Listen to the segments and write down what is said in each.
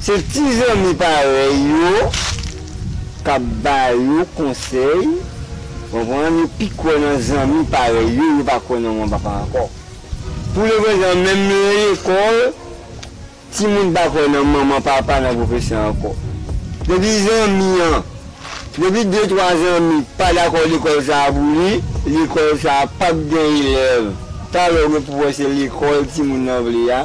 Se ti zanmi parèy yo k ap ba yo konsèy, konprann, yo pi kwè nan zanmi parèy yo, yo pa kwè nan manman papa ankò. Pou le prezan, menm nan lekòl, timoun pa kwè nan manman papa, nan pwofesè ankò. Depi zanmi an, depi de twa zanmi pa dakò lekòl sa a pou li, lekòl sa a p ap gen elèv. Talè ou gen pou wè se lekòl timoun nan vle a.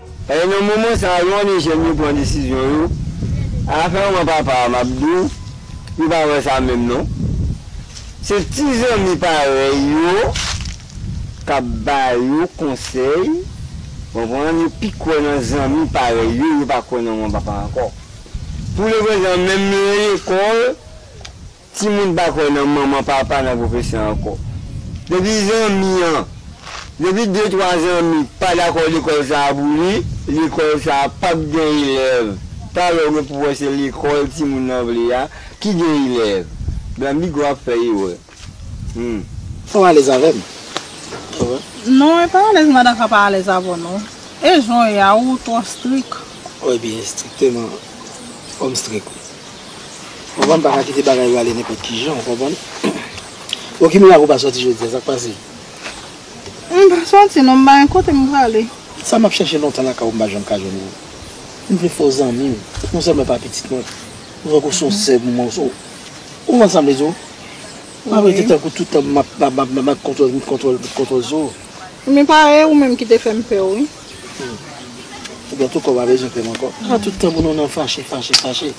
E nan moman sa yo ane jèn yo pran desizyon yo afè manman papa a map diw yo pa wè sa menm non se ti zanmi parèy yo kap ba yo konsèy konprann yo pi kwè nan zanmi parèy yo yo pa kwè nan manman papa ankò pou leprezan menm nan lekòl Timoun pa kwè nan manman papa nan pwofesè ankò. Depi zanmi an, depi de twa zanmi pa dakò lekòl sa a pou li, lekòl sa a p ap gen elèv. Talè w gen pou wè se lekòl timoun nan vle a ki gen elèv. Blanbigo ap fè erè. Hum. Ou alèz avè m? Ou wè? Non, e pa alèz madan ka pa alèz avè w non. E jan w ye a, ou twò strik. Ou byen estrikteman. Fò m strik wi. Konprann paka kite bagay yo ale nenpòt kijan ou konprann Bon ki mirak ou pa sòti jodia sak pase? M pa sòti non m pa gen kote m prale. Sa map chèche lontan lakay ou m pa janm ka jwenn ou M vle fè w zanmi m non sèlman pa pitit mwen Ou tankou son sè pou mwen Ou konprann sa m vle di w M pa vle te tankou tout tan map map map map kontwòl kontwòl kontwòl sou ou. Men pa e ou menm ki te fè m pè w wi. Ebyen tou kò pa bezwen krèm ankò. Sa tout tan pou nou nan fache fache fache.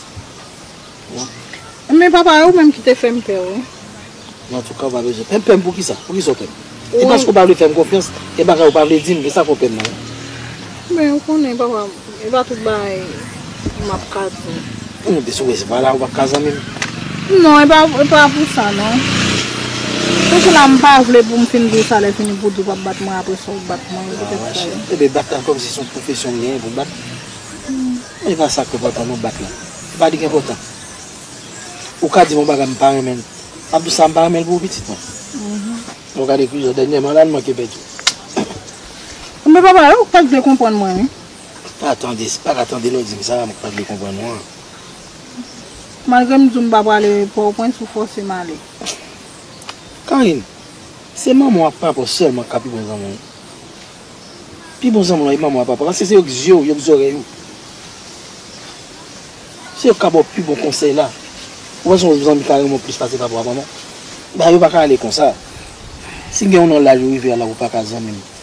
Ebyen papa e ou menm ki te fèm pè wi. Nan tou ka ou pa bezwen pèm pèm poukisa poukisa ou pèm e paske ou pa vle fèm konfyans gen bagay ou pa vle dim esa fè ou pèm nan. Men ou konnen papa e pa tout bagay. M ap ka tou. Pou nou desouwe se pa la ou pa ka zanmi m. Non e pa pou sa non. Pou ki la m pa vle pou m fin di w sa lè fini pou w di w pa p bat mwen apre sa w bat mwen. Sa va mache. E ben bat la kòmsi se yon pwofesyon m genyen pou m bat. Men e pa sa k enpòtan non bat la. E pa li k enpòtan. Ou ka di m yon bagay m pa renmen l. M ap di w sa m pa renmen l pou ou pitit mwen. Bon gade kou jan dènyèman la l manke pè tou. Bon papa e ou k pa k vle konprann mwen wi. Pa tande, pa ka tande lè w di m sa a, m pa vle konprann ou an. Malgre m di w m pa prale Pòtoprens, ou fòse m ale. Karine, se manman w ak papa w sèlman k ka pi bon zanmi w. Pi bon zanmi w lan e manman w ak papa w, paske se yo k zye w, yo k zòrèy ou. Se yo k ka ba w pi bon konsèy la. Ou panse yon zanmi ka renmen w plis pase papa w ak manman w? Bagay yo pa ka ale konsa. Si m gen yon nan laj ou rive a la, ou pa ka zanmi m.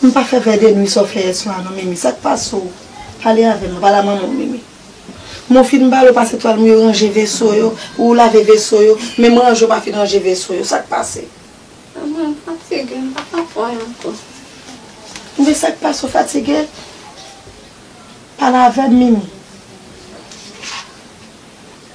M pa fè vè de nwi sa w fè yè swa non Mimi sa k pase w pale avè m nan pale a manman w Mimi M ou fin bale w pase twal m yo ranje veso yo ou lave veso yo men m ranje w pa fin ranje veso yo sa k pase Mwen m fatige m pa ka fè l ankò Mimi sa k pase w fatige pale avè m Mimi.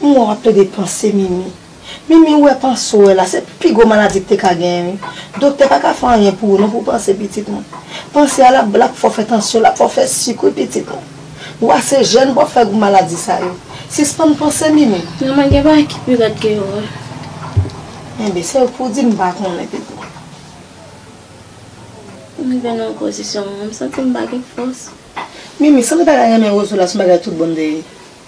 M wè wap plede panse mimi. Mimi ou wè panse ou wè la se pi gwo maladi k te ka genyen wi. Doktè pa ka fè anyen pou ou non pou w panse pitit mwen. Panse a lap lap fè w fè tansyon lap fè w fè suk wi pitit mwen. Ou ase jèn pou w ap fè gwo maladi sa yo. Sispann panse mimi. Manman gen bagay ki pi rèd ke yo wè. Enben se ou k pou w di m pa konnen pitit mwen. M rive nan yon pozisyon mwen menm m santi m pa gen fòs. Mimi sanble bagay renmen Rozo la son bagay tout bon m te ri.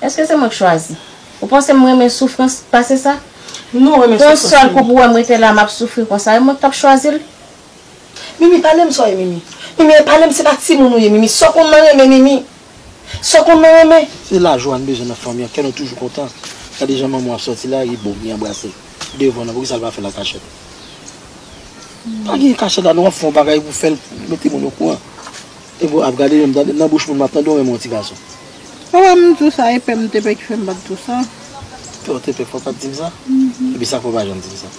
Eske se mwen k chwazi? Ou panse m renmen soufrans pase sa? Non, renmen soufrans Yon sèl kou pou wè m rete la map soufri konsa e mwen k tap chwazi l? Mimi pale m sa w ye Mimi Mimi e pale m se pa timoun ou ye Mimi sa w konn nan renmen Mimi Sa w konn nan renmen. Se lajwa n bezwen nan fanmi an kè nou toujou kontan Gade jan manman w ap sòti la li bo li anbrase devan nan poukisa l pa fè l an kachèt Pa gen kachèt la non w ap fè yon bagay pou fè l mete moun okouran. Ego ap gade menm tande nan bouch moun map tande ou renmen yon ti gason. Ou renmn tou sa e pèm te pè ki fèm bat tou sa. Pè w te pè fò pat dim sa? Epi sak fè w pa janm dim sa?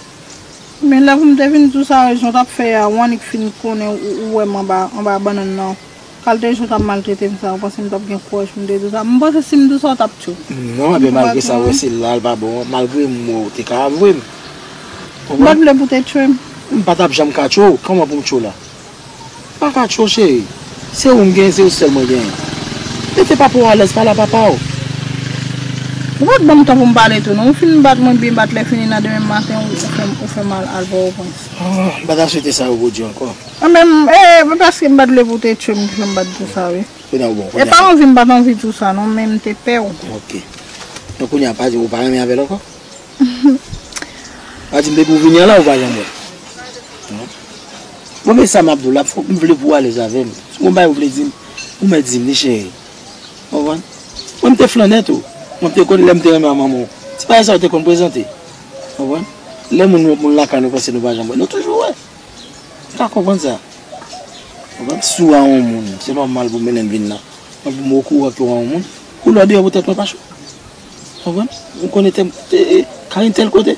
Men lè poum te vin tou sa e jan w tap fè a ou annik fin konnen ou wèm anba anba bannann nan kalte jan w tap maltretem sa ou panse m tap gen kouraj poum te tou sa m panse sim tou sa w tap tchou Non ebyen malgre sa ou wè se la l pa bon an malgre m wè w te ka avwe m ou konprann? M pat vle pou te tchwem. M patap janm ka tchwe w kòman poum tchwe w la? Pa ka cho cheri. Se ou m genyen, se ou sèl mwen genyen. Mete papa w alèz, pale a papa w. Ou pa t ban m tan pou m pale tou non. Ou fin bat mwen byen bat lè fini nan demen maten ou fè m al Pòtoprens. M pa ta swete sa repwodui ankò. Anben m, ee, m paske m pa t vle pou w te tchwe m ki fè m bat tou sa wi. Kounye a ou bon, kounye a. E pa anvi m pa t anvi tou sa non men m te pè w. Ok. Donk kounye a pa di ou pa renmen avè l ankò? Pa di m depi ou vini an la ou pa janm wè l. Mwen men sa map diw la fok m vle pou w alez avem si gon bagay ou vle dim ou mèt dim li cheri ou konprann mwen m te flannè tou mwen te konn lèm te renmen a manman w ti bagay sa yo te konn prezante ou konprann lè moun wè moun lakay nou panse nou pa janm wè nou toujou wè m pa konprann sa ou konprann m sou a on moun se nòmal pou m menenm vin nan mwen pou m okouran ke w a on moun koulè deyò pou tèt mwen pa cho Konprann? Vin konnen tèm Carine tèl kote,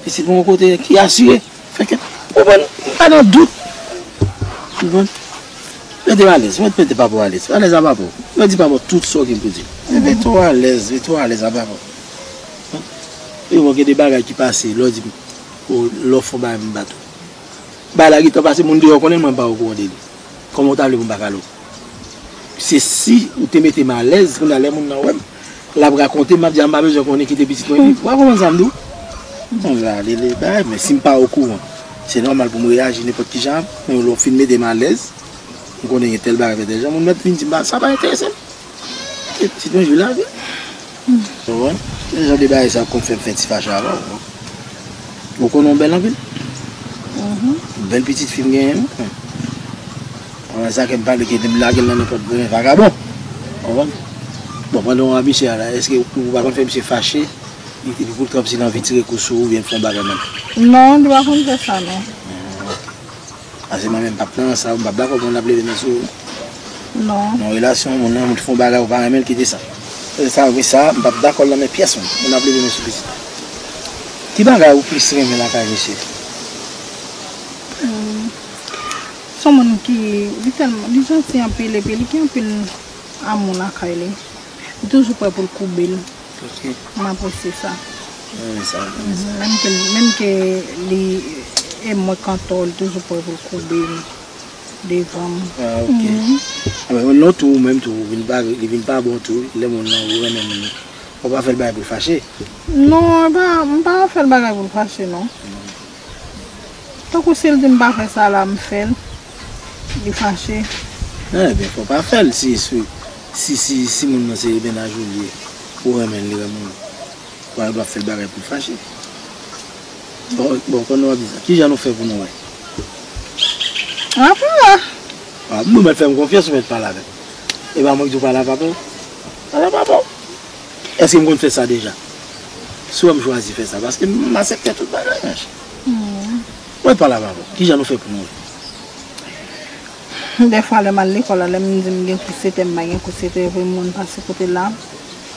isit mwen yon kote ki asire. Fè kèk, konprann? Mwen pa nan dout. Konprann? Mete w alèz. Mwen mete papa w alèz. Alèz a papa w. Mwen di papa w tout sa w gen pou di l. Men mete w alèz. Mete w alèz a papa w. Konprann? Epi bon gen de bagay ki pase lè w di m lè w fè yon bagay m bat ou. Bagay la gen tan pase moun deyò konnen l mwen m pa okouran de li. Kòman ou ta vle pou m pa kale w? Se si ou te mete m alèz, kounye a lè moun nan wè m, l ap rakonte m, m ap di a m pa bezwen konnen kite pitit mwen viv. Ou pa konprann sa m di w? Bon, sa a lele bagay men si m pa okouran, se nòmal pou m reyaji nenpòt ki jan avè w. Men lè w fin mete m alèz, m konnen gen tèl bagay fè tèl jan, moun mèt vin di m sa pa enterese m. Ti toujou la vre. Ou wè? Ki jan de bagay sa yo konn fè m fè ti fache avè w? Ou konnen w bèl anpil? Ou bèl pitit fi m genyen wi. Ou wè sa ke m pale ke m lage l nan nenpòt grenn vagabon. Ou wè? Bon, pandan ou abiche a la, èske ou pa konn fè misye fache epi pou l kòmsi l anvi tire kou sou ou oubyen l fè yon bagay menm? Non, li pa konn fè sa non. Pase mwen menm pap nan sa ou pap dakò pou moun ap leve men sou ou nan yon relasyon moun nan fon bagay ou pa renmenl kite sa sa vre sa m pap dakòl nan men pyèson moun ap leve men sou pitit mwen ki bagay ou plis renmen lakay misye son moun ki li tèlman li janti anpil epi li gen anpil amou lakay li li toujou prè poul koube l. M apresye sa. Menm ke li e mwen k antò, li toujou prè pou l koube devan m. Anben non tou ou menm tou ou vin pa li vin pa bon tou lè moun lan ou renmen moun ou pa fè l bagay pou l fache. Non m pa fè l bagay pou l fache non. Tankou sil dim pa fè sa la m fèl li fache. Nan ebyen fò pa fèl si si si si moun nan se ebena jolie ou renmenl li renmen w wal pa fèl bagay poul fache bon kon nou ap di sa kijan nou fè pou nou wè wap wè ou mèt fèm konfyans ou mèt pale avèm epa mwen ki di w pale avèm pale avèm Eske m konn fè sa deja? Si w wè m chwazi fè sa, paske m asepte tout bagay mwen chè. Mwen pale avè w, kijan nou fè pou nou wè? Dèfwa lè m al lekòl la, lè m di m gen kou setè, m pa gen kou setè, epi m konn pase kote l la.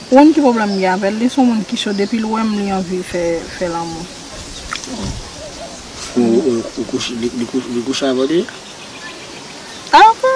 Ou konn ki pwoblèm m gen avè l? Li s on moun ki cho, depi l wè m li anvi fè lanmou. Ou kouche, li kouche avè w deja? Apa!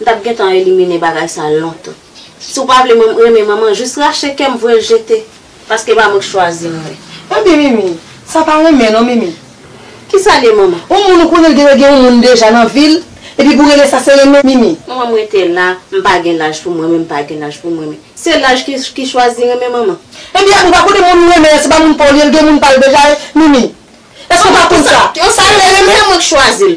M tap gentan elimine bagay sa lontan. Si w pa vle mwen renmen manman jis rache kè m voye l jete. Paske pa mwen k chwazi m wi. Anmyy mimi sa pa renmen non mimi. Kisal ye manman. On moun ou konnen l genlè gen on moun deja nan vil epi pou rele sa se renmen mimi. Manman m rete la m pa gen laj pou m renmen m pa gen laj pou m renmen. Se laj ki chwazi renmen manman. Ebyen a bouba kote moun ou renmen an se pa moun pa w li ye l gen moun pa l deja mimi. Eske w pa konn sa. Sa vle renmen se mwen k chwazi l.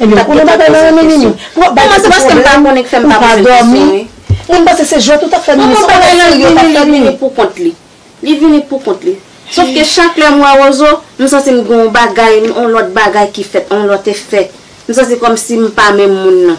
Ebyen ou konnen bagay la renmen Nini. Pou bay pitit pwoblèm, ou pa dòmi. Moun panse se jwèt ou tap fè Nini, se yon bagay serye ou tap fè Nini. Li vini pou kont li. Li vini pou kont li. Sof ke chak lè m wè Rozo, m santi m gen yon bagay, yon lòt bagay ki fèt, yon lòt efè. M santi kòmsi m pa menm moun nan.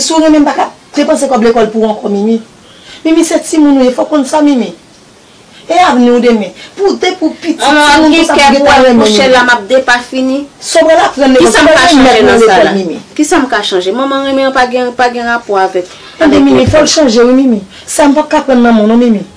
Si w renmen m pa ka depanse kòb lekòl pou ou ankò Mimi. Mimi se timoun ou ye fò w konn sa Mimi. E avni w demen. Pou depi w piti timoun konsa pou gentan renmen Mimi. Sa w pral aprann lekòl sa w pral remèt nan lekòl Mimi. Tande Mimi fò w chanje wi Mimi. Sa m pap ka pran nan men w non Mimi.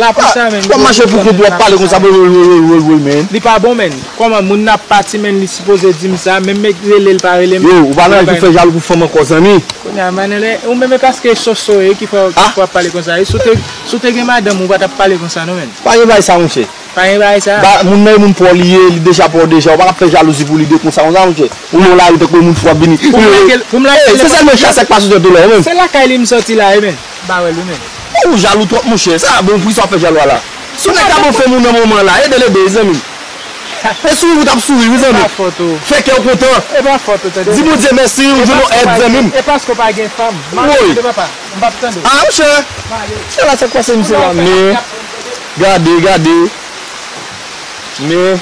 La pou sa menn. Wap mache pou kont wap pale konsa bro wol wol wol wol menn. Li pa bon menn. Koman moun nan ap pati menn li sipoze dim sa menm me relel pa relem. Yo ou pa nan laj ou fè jalou pou fanm ankò zanmi. Kounye a manel e ou menm e paske soso e ki fè wap pale konsa e si w te gen madanm ou pa tap pale konsa non menn. Pa gen bagay sa monchè. Pa gen bagay sa. Ba moun nan e moun paw li ye li deja paw deja ou pa ka fè jalouzi pou li de konsa konsa monchè. Ou nan lari tankou yon moun fou wap vini. Pou m lage l. Pou m lage l. E se sèlman chasè k pa soti an dolo menm. Se lakay li m soti la e menn. Barel wi menm. Bon ou jalou trop monchè, sa bon poukisa wap fè jalou a la? Si yon nèg ta bon fèm ou nan moman la, edel edel wi zanmi. E sourire ou tap sourire wi zanmi. Fè kèw kontan. Di Bondye mèsi ou jwenn yon èd zanmi m. Woy! A monchè! Sa la sak pase misye la men. Gade gade. Men.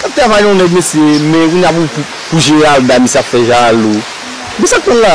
Kap travay yon nèg mesye men kounya pou Geralda misye ap fè jalou. Men sak pranl la?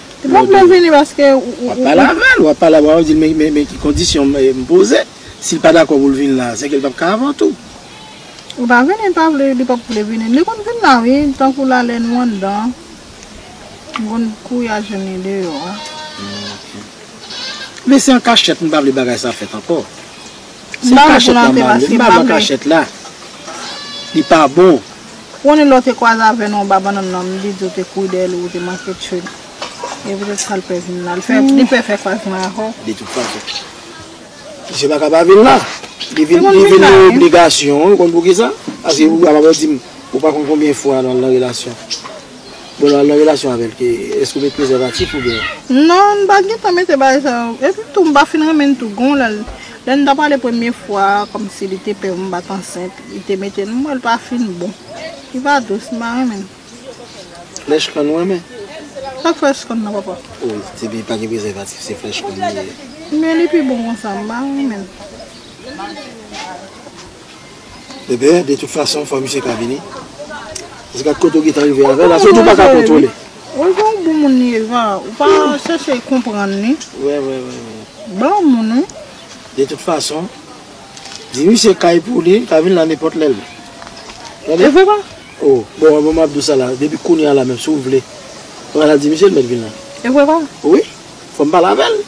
Epi wap lèl vini paske ou ou. Wap pale avèl, wap pale avèl, wap dil men ki kondisyon m poze, sil pa dakò poul vin la, sèke l pap ka avèw tou. Ou pa vini l pa vle, li pap vle vini, li konn vin la wi, tankou la lè nou anndan, m konn kouri al jwenn li deyò. Ok. Men se an kachèt m pa vle bagay sa fèt ankò. Se an kachèt la m pa vle, m pa vle an kachèt la. Li pa bon. Koni lè w te kwaze avè nou anba bannann nan, m te di w te kouri dèyè li ou te manke tchwe l. E poutèt sa l pè vin la. Li pè fè faz mwen ak ou. Detoutfason, misye pa ka pa vin la. Li vin nan obligasyon. Ou konn poukisa? Paske ou kapab di m ou pa konn konbyen fwa nou al nan relasyon. Bon lè wap nan relasyon avèl ke eske ou met prezèvatif ou byen. Non m pa gen tan mete bagay sa yo epi tou m pa fin renmen l tou gon lè lè nou ta pale premye fwa kòmsi li te pè pou m pat ansent li te mete m wè l pa fin bon li pa dous m pa renmen l. Flèch kòn ou renmen? Sak flèch kòn nan papa? Oh depi pa gen prezèvatif se flèch kòn li ye. Men li pi bon konsa m pa renmen l. Bebe de tout fason fò misye ka vini paske gad kote ou gentan rive avèl la se ou tou paka kontwole. Ou gen yon bon moun li ye va ou pa chèche konprann li. Wè wè wè wè. Bon moun wi. De tout fason di misye kay pou li li ka vin la nenpòt lè l tande. E vre pa? Oh bon bon map di w sa la depi kounya la menm si w vle ou ka al di misye l mèt vin la. E vre pa? Wi fò m pale avèl.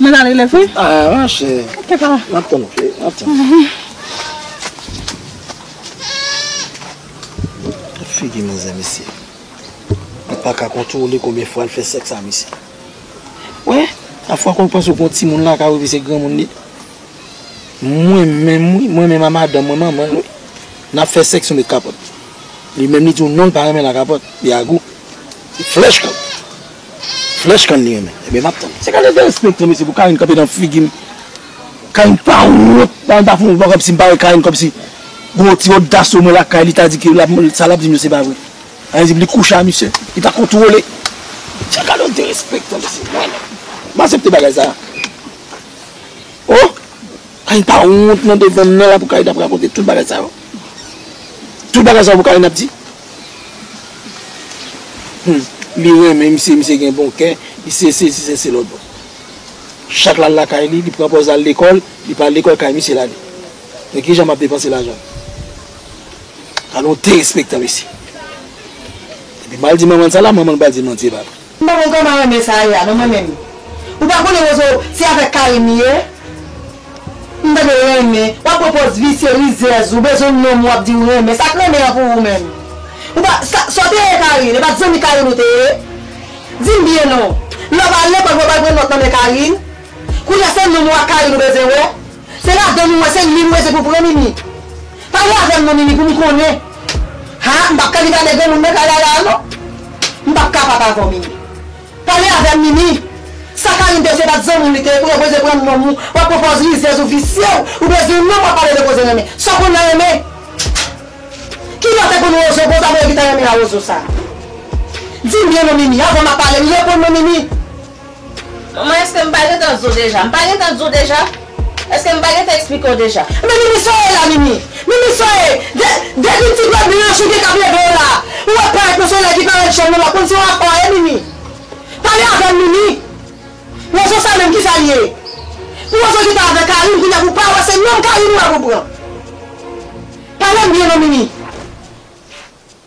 Mwen ale lève wi. A ma chè. Ok pa. Map tann ok. Map tann. Gad figi manzè mesye. Li pa ka kontwole konbyen fwa li fè sèks a mesye. Wè? A fwa konw panse ou gon timoun lakay ou epi se granmoun li. Mwen menm wi, mwen menm a madanm mwen manmanl wi. Nap fè sèks ou met kapòt. Li menm li diw non li pa renmen la kapòt. Li a gou. Li flèch kanm. Flush kann li renmen ebyen map tann. Se kalite derespektan mesye pou Carine kanpe nan figim Carine pa wont nan ta fon vagabn sim pa wè Carine kòmsi gon ti odas omwen lakay li ta di ke sa lap dim yo se pa vre Carine dim li kouche a misye li pa kontwole se gade yon derespektan mesye mwen menm m asepte bagay sa oh Carine pa wont nan devanm nan la pou Carine ap rakonte tout bagay sa yo tout bagay sa yo pou Carine ap di. Humm li renmen misye misye gen bon kè li se sesi se se lòt chak lal lakay li li pran pòz lal lekòl li pa al lekòl kay misye lale men kijan map depanse lajanm al on derespektan mesye epi mal di manmanl sa la manmanl pral di manti epa vre. M pa konn kòman renmen sa ye a non mwen menm ou pa konnen wozo se avèk Karim li ye m tande l renmen w ap pran pòz visye rizèz ou bezwen nonm w ap di ou renmen sa k renmen an pou ou menm ou pa sa w te ye Carine e pa t zanmi Carine ou te ye di m byen non lè w al lekòl pou w al pran nòt nan men Carine kounye a se nonm ou ak Carine ou bezwen wè. Se ladann ou wè se lil ou rete pou pran mimi pale avèm non mimi poum konnen haa m pap ka di gade granmoun nan kay aa non m pap kapab avèw mimi pale avèm mimi sa Carine te fè pat zanmiw li te pou yo poze pran nonm ou wap pran pòz rizèz ou visye ou bezwen nonm wap pale de koze renmen sa w konn nan renmen ki lè w te konn wozo konsa pou yo gin tan renmen a wozo sa dim byen non mimi avan map pale reponn mwen mimi. Manman eske m pa gentan di w deja? M pa gentan di w deja? Eske m pa gentan eksplike w deja? Men mimi sa w ye la mimi? Mimi sa w ye? Depi ti dwèt blan an chouke k ap leve w la a, ou wè parèt yon solèy ki parèt jèn ou la konn se yon akò w ye mimi? Pale avè m mimi? Wozo sa menm kisa l ye? Pou wozo ki ta avè Karim kounya pou w pa wè se nonm Karim ou wè pou w pran? Pale m byen non mimi?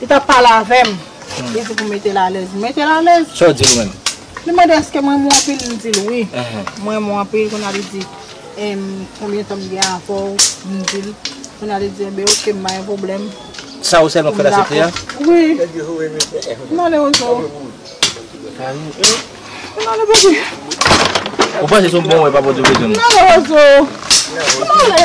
Li tap pale avèm, li di pou metel alèz, m metel alèz. Sa w dil menm? Li mande eske m renmen w anpil, m dil wi, m renmen w anpil, kounya li di, em konbyen tan m gen avè w, m dil, kounya li di enben ok m pa gen pwoblèm. Sa ou sèlman k fèl asepte a? Wi. M ale o zo. M ale bebe. Ou panse se yon bon wè pa pote bezwen m? M ale o zo. M ale.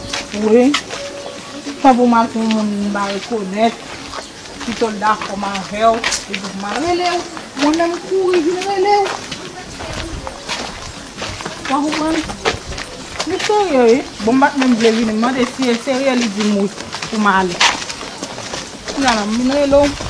Wi Tan pou mal pou moun m pa rekonèt Pito l dakò m avè w Li di m al rele w Mwen menm m kouri vin rele w Ou pa konprann Li serye wi Bon m pa t menm vle vini m mande si e serye li di m wi pou m ale Kounye a la m vin rele w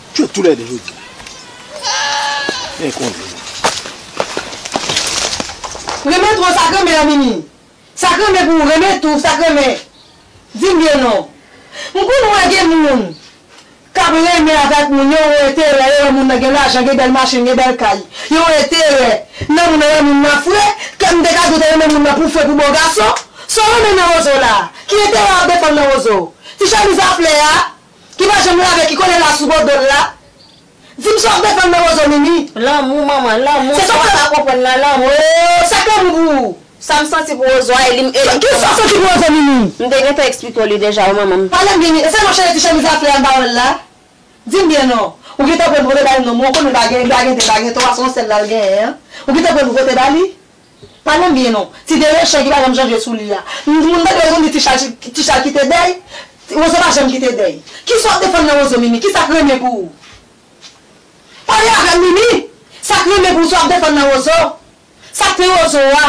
Tchou tou lè 2 jodi a. Mwen konnen nou. Renmen twò sa k renmen an mimi sa k renmen pou ou renmen tou sa k renmen di m byen non m konn wè gen moun k ap renmen avèk moun yo wè enterè yo wè moun nan gen lajan gen bèl machin gen bèl kay yo wè enterè nan moun nan wè moun nan fre kè m te ka di w te renmen moun nan pou fre pou bon gason sa w renmen nan wozo la ki enterè w ap defann nan wozo ti chemiz a flè a Ki pa janm lave ki kole la sou bo dol la Di m sa w ap defann nan Wozo Mimi. Lanmou manman lanmou Se sa w pa konprann nan lanmou Ooh Sa k lanmou pou ou? Sa m santi pou Wozo a e li m e li Ki sa w santi pou Wozo Mimi? M te gentan eksplike w li deja wi manman m. Pale m byen Mimi E sa non cheri ti chemiz a flè a m pa wè l la Di m byen non Ou gentan pran nouvote ba li non Mwen konnen l pa gen li pa gen de l pa gen twa se yon sèl la l genyen an Ou gentan pran nouvote ba li? Pa menm byen non. Ti Delechan ki pa janm chanje sou li a. M moun tande yo konn di ti chal kite dèy, Rozo pa janm kite dèy. Kisa wap defann nan Rozo Mimi? Kisak renmen pou ou? Pale avèm Mimi! Sak renmen pou ou sa wap defann nan Rozo? Sak te Rozo a?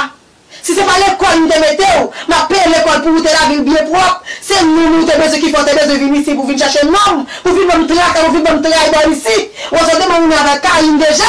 Si se pa lekòl m te metew, map peye lekòl pou ou te lavil byen pwòp, se nonm ou te bezwen ki fè ou te bezwen vin isi pou vin chache nonm, pou vin banm traka, pou vin banm tray bò isi. Rozo te bon moun avèl Carine deja.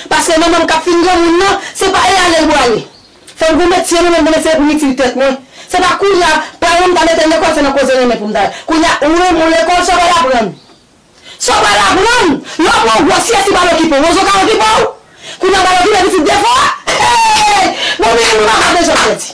Paske manmanm kap fin granmoun nan, se pa e alel bwale. Fòm gon metye nan menm mwen men se poum itil tèt mwen. Se pa kounya, paranm m ta metel lekòl se nan koze renmen poum ta. Kounya ou renmen w lekòl sa w pral aprann. Sa w pral aprann! Lè w pran yon gwo syèt li pral okipe w. Wozo ka okipe w? Kounya w pral okipe pitit de fwa? Hey! Bon men nou pa ka bezwen pèdi.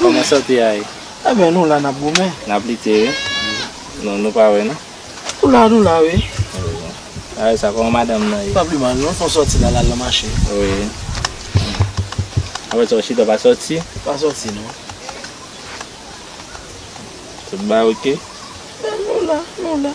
Koman sante a ye? E byen nou la nap goumen. Nap lite wi. Non nou pa we non. Nou la nou la wi. Awe sa koman madanm nan ye? Pa pi mal non fon soti la lal nan mache. Wi. Apre sa w chita w pa soti? Pa soti non. Tout ba ok? E nou la nou la.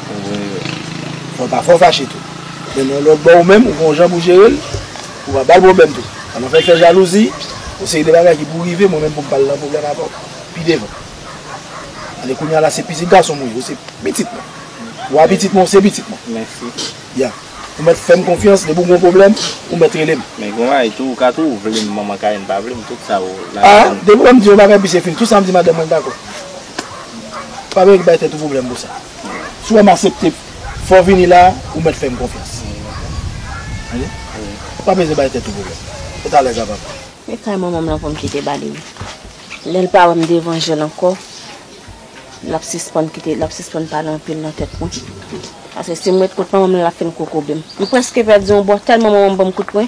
Fò pa fò fache tou. Men nan lòt bò ou menm ou gen yon jan pou jere l, ou pa ba l pwoblèm tou. An nou fèk fè jalouzi, yon seri de bagay ki pou rive mwen menm pou m pa al nan pwoblèm avè w pi devan. Annik kounye a la se pitit gason mwen ye, ou se pitit mwen. Ou pa pitit mwen, ou se pitit mwen. Mèsi. Ya. Ou mèt fè m konfyans, depi w gen yon pwoblèm, ou mèt rele m. Men gen yon bagay tou, ou ka tou vle m manman Kayen pa vle m, tout sa ou la. A, depi w wè m di yon bagay epi se fini, tout sa m di madanm mwen dakò. Pa menm bay tèt ou pwoblèm pou sa. Si w wè m asepte fè w vini la, ou mèt fè m konfyans. Tande. Pa bezwen bay tèt ou pwoblèm. Fèt alèz la papa. E kay manman m lan pou m kite ba li wi. Lè l pa wè m devan je l ankò, l ap sispann kite, l ap sispann pale anpil nan tèt mwen. Paske si m ret kot manman m lan l ap fin kokobe m. M prèske pèdi yon bò tèlman manman m ban m kout pwen.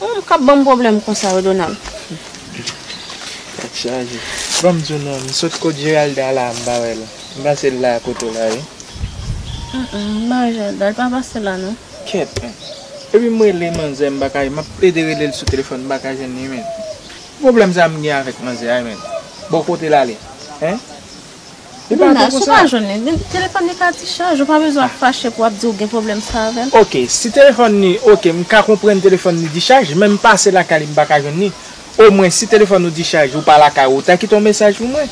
Humm kap banm problem konsa yo Donald. Tèt chaje. Banm di w non m sot kot Geralda la m pa wè l. M panse l la kote w la wi. Humm m pa wè Geralda l pa pase la non. Kèt men. Epi m rele manzè m paka jwenn map plede rele l sou telefòn m paka jwenn li menn. Ki problem sa m gen avèk manzè a menn. Bon kote l ale hein. Li pa bon konsa. Nana, si w pa jwenn li, telefòn li ka dichaj. Ou pa bezwen ap fache pou ap di ou gen pwoblèm sa avè l. Ok, si telefòn li ok, m ka konprann telefòn li dichaj, men m pase lakay li m pa ka jwenn li. Omwen, si telefòn ou dichaj, ou pa lakay ou, ou ta kite yon mesaj pou mwen.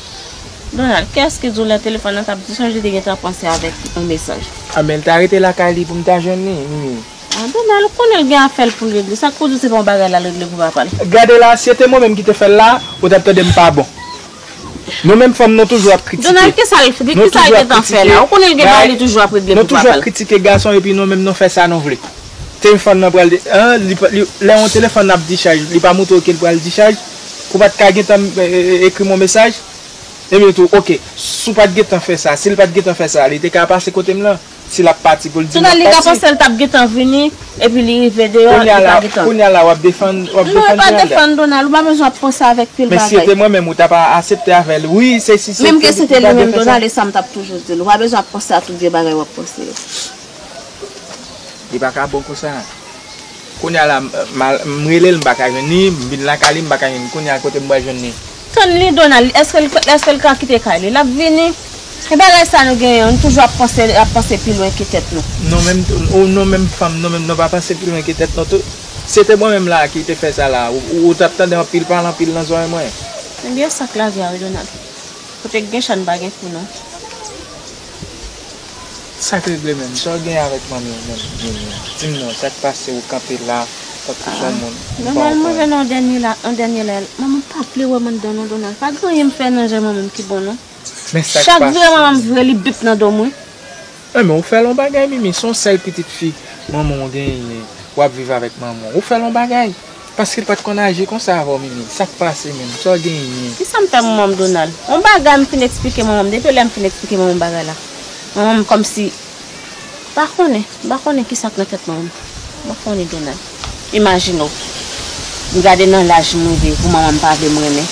Donald, kiyès ki di w lè telefòn nan t ap dichaj li te gen tan panse avèk yon mesaj? A men l ta rete lakay li pou m ta jwenn li, Mimi. A Donald, ou konnen l gen afè l pou l regle. Sa k pou di w se pa yon bagay l al regle pou papa l? Gade la, si se te mwen menm ki te fè l la, ou t ap tande m pa bon. Nou menm fanm nou toujou ap kritike. Donald kisa l fè, kisa l gentan fè la, ou konnen l gen bagay li toujou ap regle pou papa l. Nou toujou ap kritike gason epi nou menm nou fè sa nou vle. Telfòn nan pral lè yon telefòn nan ap dichaj li pa moutre w ke l pral dichaj pou pat ka gentan ekri m yon mesaj epi tou ok si w pat gentan fè sa si l pat gentan fè sa li te ka pase kote m lan. Si lap pati pou l di l lap pati. Sou Nalika panse l tap gentan vini epi li rive deyò li pa gentan. Kounye a la wap defann wap defann Donald la. Non m pa defann Donald ou pa bezwen ap panse avèk pil bagay. Men si se te mwen menm ou tap asepte avèl wi se si se te li. Menm ke se te li menm Donald e sa m tap toujou di l ou pa bezwen ap panse a tout vye bagay wap panse yo. Li pa ka bon konsa. Kounya la m rele l m pa ka jwenn li, m vin lakay li m pa ka jwenn li. Kounya kote m pral jwenn li? Tann li Donald, eske l ka kite kay li? L ap vini. E bagay sa nou genyen an, nou toujou ap panse pi lwen ke tèt nou. Nou menm tou, ou nou menm fanm nou menm nou pa panse pi lwen ke tèt nou tou? Si se te mwen menm la a ki te fè sa la a, ou t ap tande anpil pale anpil nan zòrèy mwen? Ebyen sa k lavi a wi Donald. Kote k gen chan pa gen kou non. Sak regle menm, sa w gen avèk manmi w menm Nini a? Di m non, sak pase ou kanpe la tankou son moun m pa konprann. Nòmalman lè nan dènye la, an dènye la, manman m pa vle wè m anndan non Donald, pa gen anyen m fè nan je manman m ki bon non. Chak vre manman m vre li bip nan do m wi. Men ou fè l yon bagay Mimi, son sèl pitit fi manman w genyen, wap viv avèk manman w, ou fè l yon bagay. Paske l pat konn aji konsa avè w Mimi. Sa k pase menm? Sa w genyen? Kisa m fè manman m Donald? On bagay m fin eksplike manman m. Depi lè m fin eksplike manman m bagay la, manman m kòmsi M pa konnen. M pa konnen kisa k nan tèt manman m. M pa konnen Donald. Imajine w, m gade nan laj m rive pou manman m pa vle m renmen.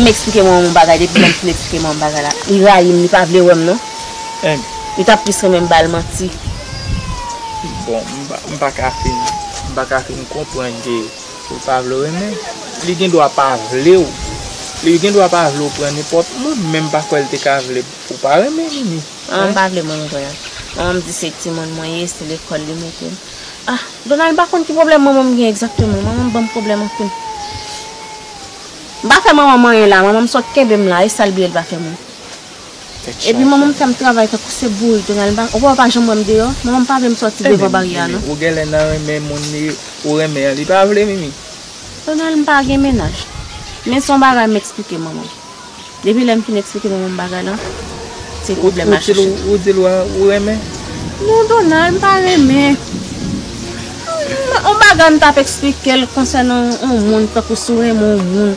M eksplike manman m on bagay depi lè m fin eksplike manman m bagay la, li rayi m, li pa vle wè m non. Em. Li tap plis renmen m bal manti. Bon m pa ka fin m pa ka fin konprann ke ou pa vle w renmen l. Li gen dwa pa vle w. Li gen dwa pa vle w pran nenpòt moun men m pa kwè l te ka vle ou pa renmen Mimi. Manman m pa vle moun vre a. Manman m di se timoun mwen ye, se lekòl li mete m. Ah Donald m pa konn ki pwoblèm manman m gen egzakteman. Manman m ban m pwoblèm anpil. M pa fè manman m anyen la. Manman m sot kenbe m la. E sa l bliye l pa fè mwen? Epi manman m fè m travay tankou se bourik tou nan ou wè ou pa janm wè m deyò manman m pa vle m sòti devan baryè a non. Ou gèlè nan renmen moun li ou renmen an li pa vle mimi. Tonal m pa gen mennaj men son bagay m eksplike manman m depi lè m fin eksplike manman m bagay lan se pwoblèm la chèche. Ou di l ou renmen. Non Donal m pa renmen on bagay m tap eksplike l konsènan on moun tankou si w renmen on moun.